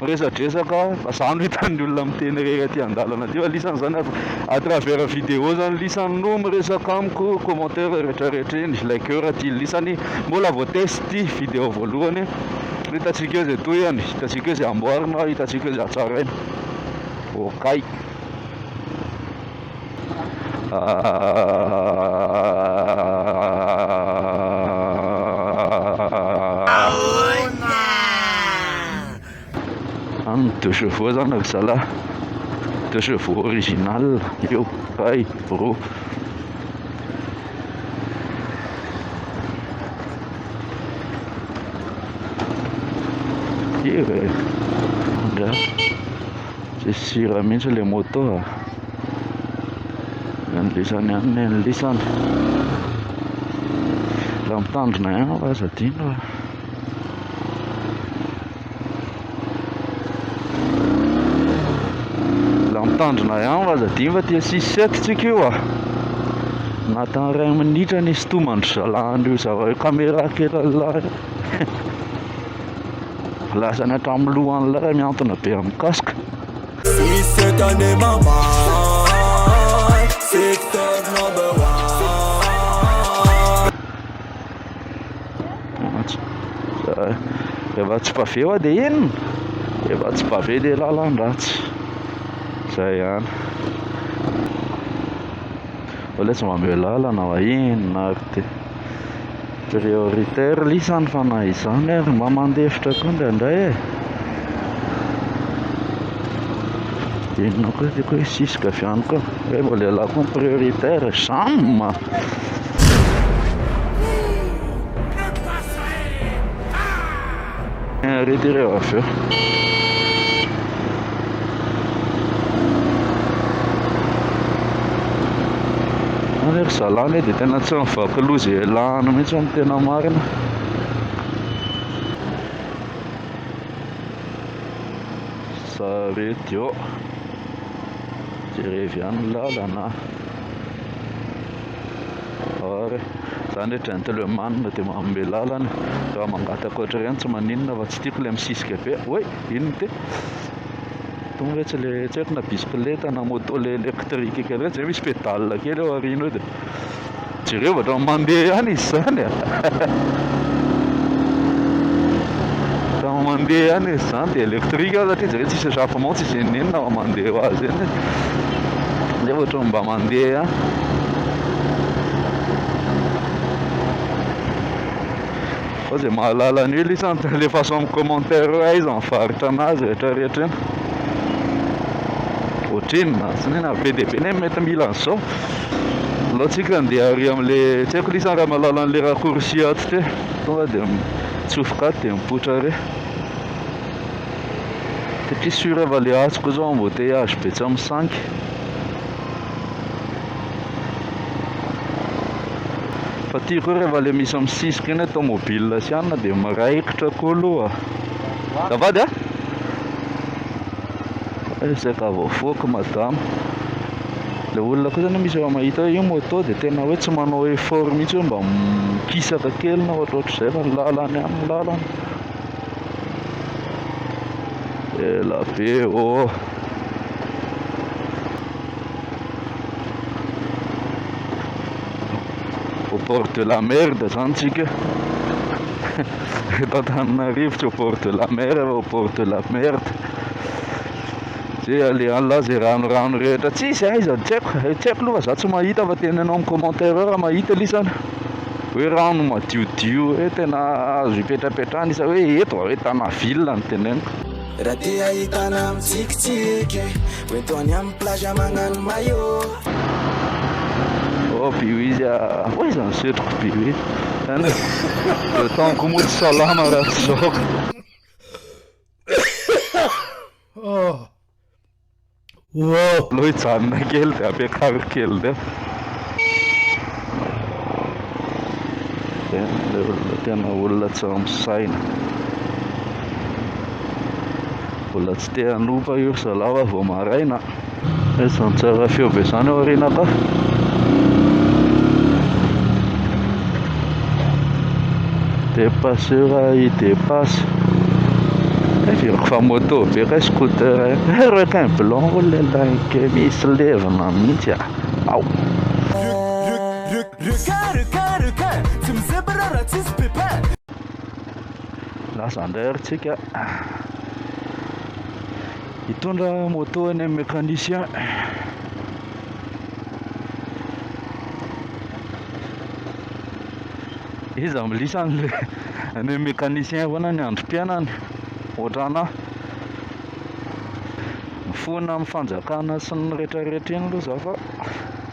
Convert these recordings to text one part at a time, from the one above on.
Miresadresaka fa za no hitan'ny olona miteny irery aty an-dalana aty fa lisany zany à travers vidéo zany lisany no miresaka amiko commentaire retraretra eny likeur aty lisany mbola vao test ty vidéo voalohany hitatsika eo zay tohiny hitatsika eo zay amboarina hitatsika eo zay hatsaraina okay Amin'ny deux chevaux zany ry zalahy, deux chevaux original io kay brô. Ye eh, angaha. Tsisy sira mihitsy le moto a. Ny lisany ihany ny ny lisany. Raha mitandrina ihany aho aza adino a. Raha mitandrina ihany aza adino fa tia six sept tsika io a. Anatin'ny iray minitra ny sitomandry zalahan'io zava- io caméra kely an'lah io. Voalazany hatramin'ny lohan'ilay raha mihantona be amin'ny casque. Rehefa tsy pavé hoa dia inona? Rehefa tsy pavé dia lalan-dratsy. Izay ihany. Olona tsy mba meo lalana va inona ary ity? Prioritaire lisa ny fanahy izany ary mba mandefitra koa indraindray e inona koa ity koa siska avy any koa hoe vao lehilahy koa prioritaire jam Reto ireo avy eo. Ary ry zalahy anie dia tena tsy mivaky loha izay ialana mihitsy amin'ny tena marina. Sarety eo. Jerevy ihany ny lalana. Ary izany hoe gentleman dia manome lalana raha mangataka ohatr'ireny tsy maninona fa tsy tiako ilay misisika be hoe inona ity? Tonga hoe tsy le tsy haiko na bisikileta na moto le électrique kely ireny izay misy pédale kely eo aoriana eo dia jereo vao ohatran'ny mandeha ihany izy izany e ohatran'ny mandeha ihany izy izany dia électrique aho satria jereo tsisy échappement tsisy inona inona raha mandeha ho azy eny dia ohatran'ny mba mandeha ihany Fa zay mahalala an'io lisa an alefaso amin'ny commentaire hoe aiza ny varotra anazy rehetra rehetra eny Ohatrinona tsy ny na be dia be ny mety mila an'izao Aleo tsika andeha ary amin'le tsy haiko lisa raha mahalala an'le raccourci ato ty tonga dia mitsofoka ato dia mipoitra ary satria sur fa le azoko zao embouteillage be tsy amin'ny sangy fa ty koa rehefa le misy amin'ny sisika eny tomobile sy anona dia miraikitra koa aloha zavady a ezaka eh, voafoako madame le olona koa zany misy efa mahita hoe io moto dia tena hoe tsy manao effort mihitsy hoe mba mikisaka kely na ohatrohatr'izay fa ny lalany any ny lalany Ela be ô! Au port de la mer dia zany tsika eto Antananarivo tsy au port de la mer fa au port de la merde zay alehan'lah zay ranorano rehetra tsisy aiza tsy haiko tsy haiko aloha fa za tsy mahita fa teneno amin'ny commentaire eo raha mahita lisany hoe rano madiodio hoe tena azo ipetrapetrahana izy hoe eto hoe tana ville no teneniko. Raha te hahita anah mitsikitsiky Hoe toa any amin'ny plage magnano maillot Oh be hoe izy ah Oiza ny setriko be hoe Zany hoe le temps-ko moa tsy salama raha tsy zao ka. Wow! Aleo hijanona kely dia ampiakariko kely dia. Tena ilay olona tena olona tsy misaina. Mbola tsy te hanompa io ry zalahy fa vao maraina. Izany tsara feo be izany ao aoriana ka. Dépasseur i dépasse. Averiko fa moto be kay scooter eh. Eh requin blanc oh là là kay misy levona mihitsy ah. Ao. Requin requin requin tsy mizebra raha tsisy pépin. Lasa indray ary tsika. Hitondra moto any amin'ny mécanicien. Iza milisa any le any mécanicien foana ny androm-piainany ohatranah. Mifona amin'ny fanjakana sy ny rehetra rehetra iny aloha za fa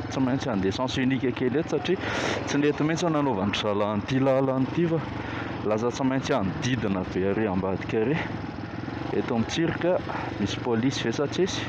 tsy maintsy handeha sens unique kely eto satria tsy nety mihitsy ny nanaovan'dry zalahy an'ity lalana ity fa lasa tsy maintsy hanodidina be ary ambadika ary eto amin'ny tsirika misy polisy ve sa tsisy?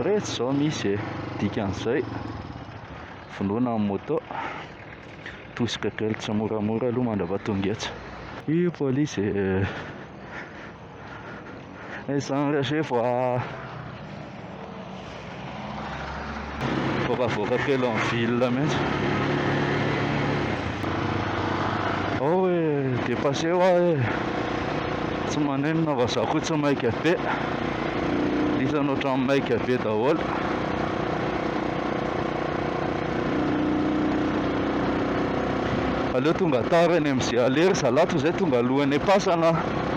Retsy zao misy e! Dikan'izay. vonoina ny moto tosika kely tsimoramora aloha mandrava tonga etsy i polisy eh. eh, zany resy voa voakavoaka kely en ville mihitsy ao hoe dépassé hoa e tsy manenina fa za koa tsy maika be isan'ohatran'ny maika be daholo Aleo tonga tara any am ze aller za la tozay tonga alohan e pasana a.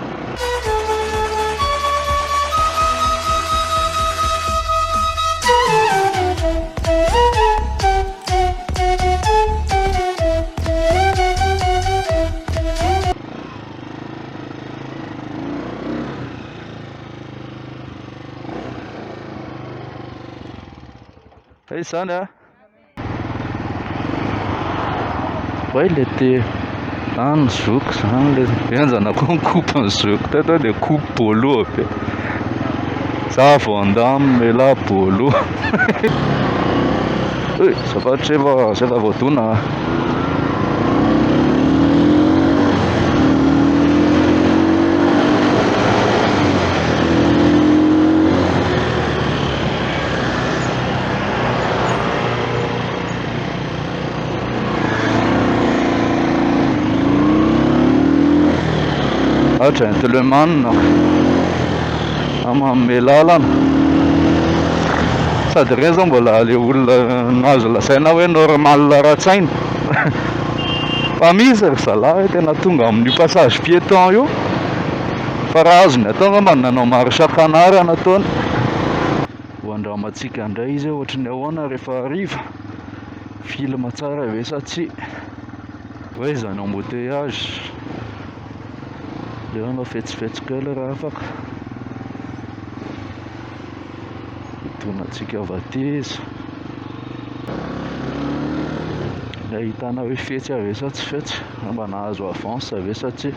Hey zany a. Way le te any zoky zany le enjana koa ny coupe ny zoky teto dia coupe bolo be. Za vao andamy mela bolo. Hey, zafady zay va zay va voadona. Ah, gentleman manome lalana sady ireny izao mbola le olona nazo lazaina hoe normal ara-tsaina fa misy ry zalahy tena tonga amin'io passage piéton io Fa raha azony atao angamba ny nanao marche à canard nataony, ho andramantsika indray izy hoe ohatry ny ahoana rehefa hariva, film tsara ve sa tsia, hoe izany embouteillage, aleo hanao fetsifetsy kely raha afaka, hidonantsika avy aty izy, ilay ahitana hoe fetsy ve sa tsy fetsy, angamba nahazo avance ve sa tsia.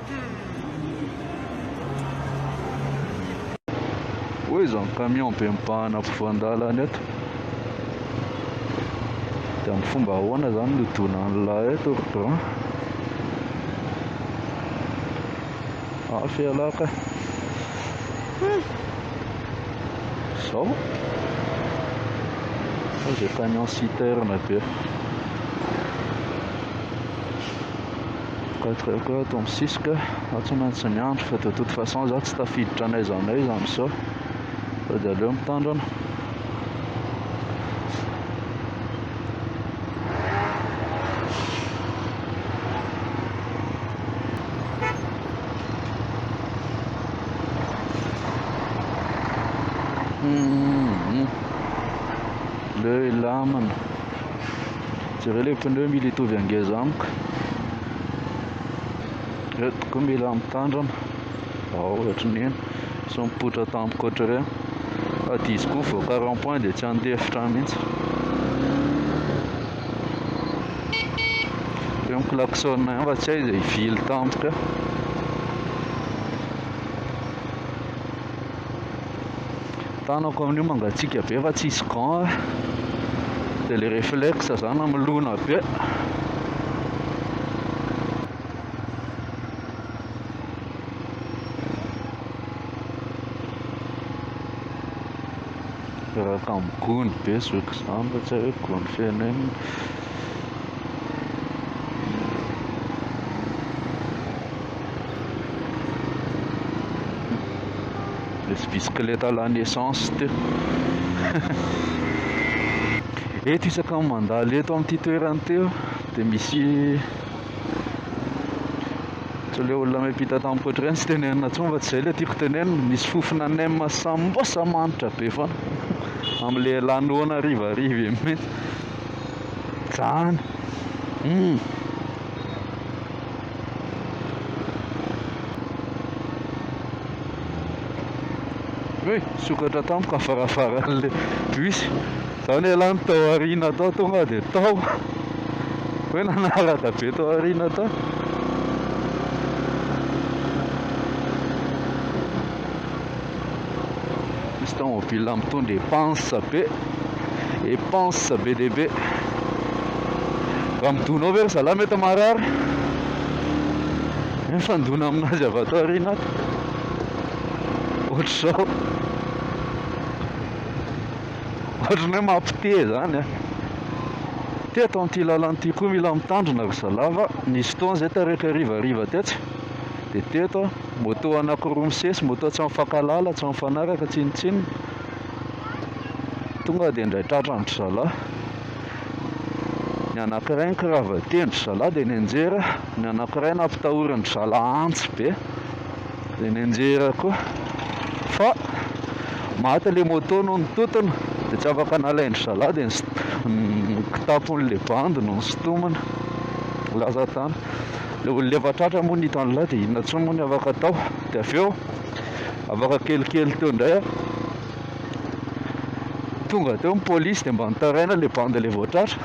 Oy izany camion be mibahana ampovoan-dalana eto dia amin'ny fomba ahoana izany no donan'ilay eto rang afy ialahy ka izao izay camion citerne be Gadraiko ato amin'ny sisika, aho tsy maintsy miandry fa de toute façon za tsy tafiditra n'aiza n'aiza amin'izao fa de aleo mitandrina. Leo hilamina. Jereo le pneu mila hitovy angeza amiko Reo tokoa mila mitandrana Ao ohatrin'iny sao mipoitra tampoka ohatr'ireny Fa dia izy koa mivoaka rond point dia tsy handeha efitra mihintsy Reo ny klaxon ihany fa tsy hay izay hivily tampoka eo Tanako amin'io mangatsiaka be fa tsisy gant a! Dia ilay reflexe izany hamelona be. Reraka amin'ny gony be zoky izany fa tsy hoe gony feno inona. Nisy bisikileta lany essence teo. Eto isaka ny mandalo eto amin'ity toerana ity dia misy tsy ilay olona miampita tamin'ny poitra ireny tsy tenenina intsony fa tsy izay ilay tiako tenenina misy fofona nem sambosa manitra be foana amin'ilay lanoana harivariva iny Zan uhm. He nisokatra tamiko avaravarana bus za ne lany tao aoriana tao tonga dia tao hoe nanaraka be tao aoriana tao Misy taomobil mitondra epansa be, epansa be dia be. Raha midona ao ve ry zalahy mety marary? Mifandona aminazy avy ato aoriana ato. Ohatr'izao. Ohatran'ny hoe mampite izany a. Teto amin'ity lalana ity koa mila mitandrina ry zalahy fa nisy fotoana izay taraiky hariva hariva tetsy dia teto aho. Moto anankiroa misesy, moto tsy mifankahalala, tsy mifanaraka, tsinontsinona. Tonga dia indray tratran-dry zalahy. Ny anankiray nikiravaten-dry zalahy dia nianjera, ny anankiray nampitahorin-dry zalahy antsy be dia nianjera koa. Fa maty ilay moto noho ny tontona dia tsy afaka nalain-dry zalahy dia ny kitapon'ilay bandy no nosintomina, lasa tany. Ilay olona efa tratra moa ny hitan'ilay dia inona intsony moa ny afaka atao. Dia avy eo afaka kelikely teo indray aho. Tonga teo ny polisy dia mba nitaraina ilay bandy ilay vao tratra.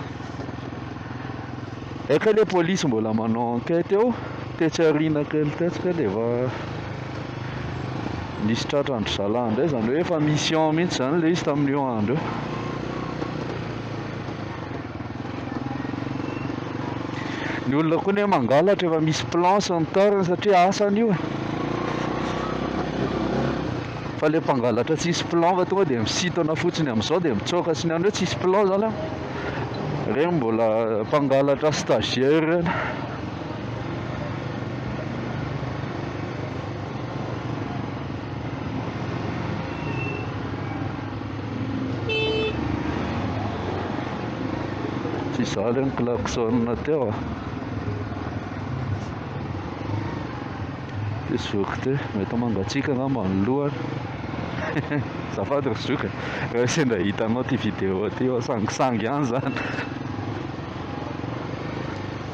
Hay kay ilay polisy mbola manao enquête eo, tetsy aoriana kely tetsy kay dia efa nisy tratra an-dry zalahy indray, izany hoe efa mission mihitsy izany ilay izy tamin'io andro io. Ny olona koa anie mangalatra efa misy planche ny tariny satria asany io e. Fa le mpangalatra tsisy plan fa tonga dia misintona fotsiny amin'izao dia mitsoaka sy ny an'ireo tsisy plan zany an. Ireny mbola mpangalatra stagiaire ireny. Tsy izaho ilay niklaxonina teo ah. Ty zoky ty, mety mangatsiaka angamba ny lohany. Azafady ry zoky, raha sendra hitanao ty vidéo ty, sangisangy ihany izany.